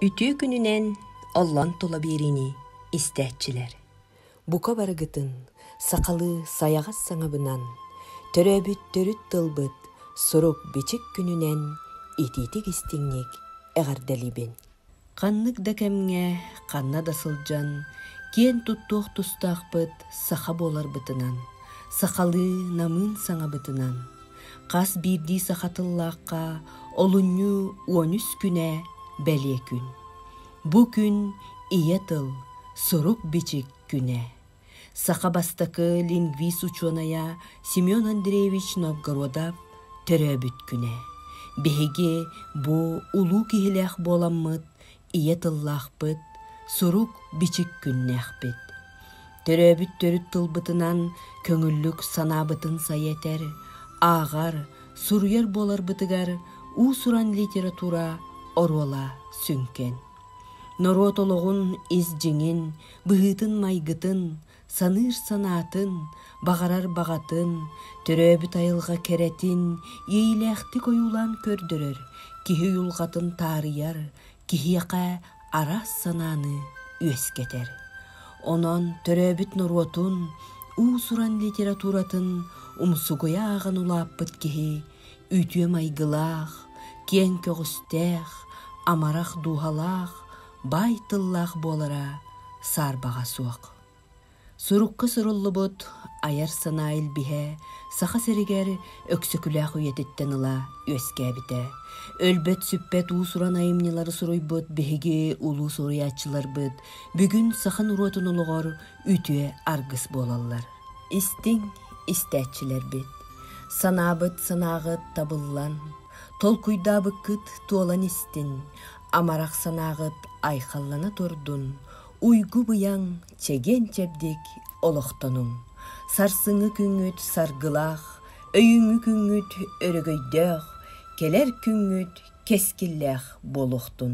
Үтүө күнүнэн оллон тула биэриини истээччилэр. Бука барыгытын сахалыы сайаҕас саҥабынан, төрөөбүт төрүт тылбыт сурук-бичик күнүнэн итиитик истиҥник эҕэрдэлиибин. Ханнык да кэмҥэ, ханна да сылдьан, киэн туттуох тустаахпыт саха буоларбытынан, сахалыы намыын саҥабытынан, хас биирдии саха тыллаахха олунньу уон үс күнэ бэлиэ күн. Бу күн ийэ тыл, сурук-бичик күнэ. саха бастакы лингвист учуонайа Семен Андреевич Новгородов төрөөбүт күнэ биһиги бу улуу киһилээх буоламмыт ийэ тыллаахпыт сурук-бичик күннээхпит төрөөбүт төрүт тылбытынан көҥүллүк санаабытын сайа этэр ааҕар суруйар буоларбытыгар уус-уран литература оруола сүҥкэн Норуот олоҕун ис дьиҥин, быһыытын-майгытын, саныыр санаатын, баҕарар баҕатын, төрөөбүт айылҕа кэрэтин иэйиилээхтик ойуулаан көрдөрөр, киһи уйулҕатын таарыйар, киһиэхэ араас санааны үөскэтэр. Онон төрөөбүт норуотун, уус-уран литературатын умсугуйа ааҕан улааппыт киһи Үтүө майгылаах, киэҥ көҕүстээх, амарах дууһалаах, баай тыллаах буолара саарбаҕа суох. Сурукка суруллубут айар санаа илбиһэ Саха сиригэр Өксөкүлээх үйэтиттэн ыла үөскээбитэ. Өлбөт-сүппэт уус-уран айымньылары суруйбут биһиги улуу суруйааччыларбыт бүгүн саха норуотун олоҕор үтүө аргыс буолаллар. Истиҥ истээччилэрбит, санаабыт санааҕыт табыллан, толкуйдаабыккыт туолан истин, амарах санааҕыт айхаллана турдун, уйгу-быйаҥ чэгиэн-чэбдик олохтонуҥ. Сарсыҥҥы күҥҥүт саргылаах, өйүҥҥү күҥҥүт өрөгөйдөөх, кэлэр күҥҥүт кэскиллээх буолуохтун,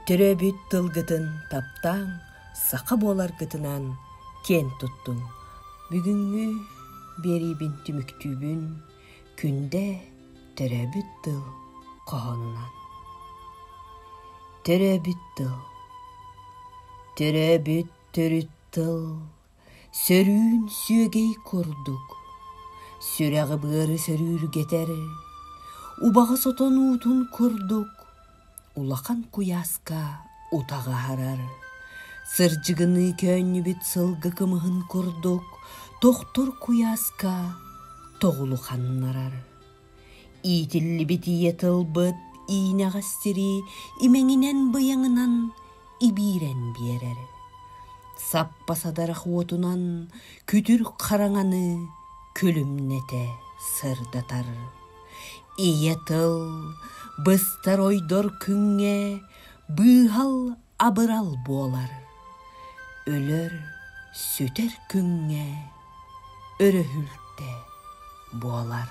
төрөөбүт тылгытын таптааҥ, саха буоларгытынан киэн туттуҥ. Бүгүҥҥү биэриибин түмүктүүбүн күндэ төрөөбүт тыл хоһоонунан. Төрөөбүт тыл Төрөөбүт төрүт тыл сөрүүн сүөгэй курдук сүрэҕи-быары сөрүүргэтэр убаҕас отон уутун курдук улахан куйааска утаҕы аһарар сырдьыгыныы көөнньүбүт сылгы кымыһын курдук тохтур куйааска тоҕулу ханнарар Иитиллибит ийэ тылбыт иинэҕэстирии имэҥинэн-быйаҥынан ибиирэн биэрэр. Саппа садарах уотунан күтүр хараҥаны күлүмнэтэ сырдатар. Ийэ тыл быстар ойдор күҥҥэ быыһал абырал буолар өлөр сүтэр күҥҥэ өрөһүлтэ буолар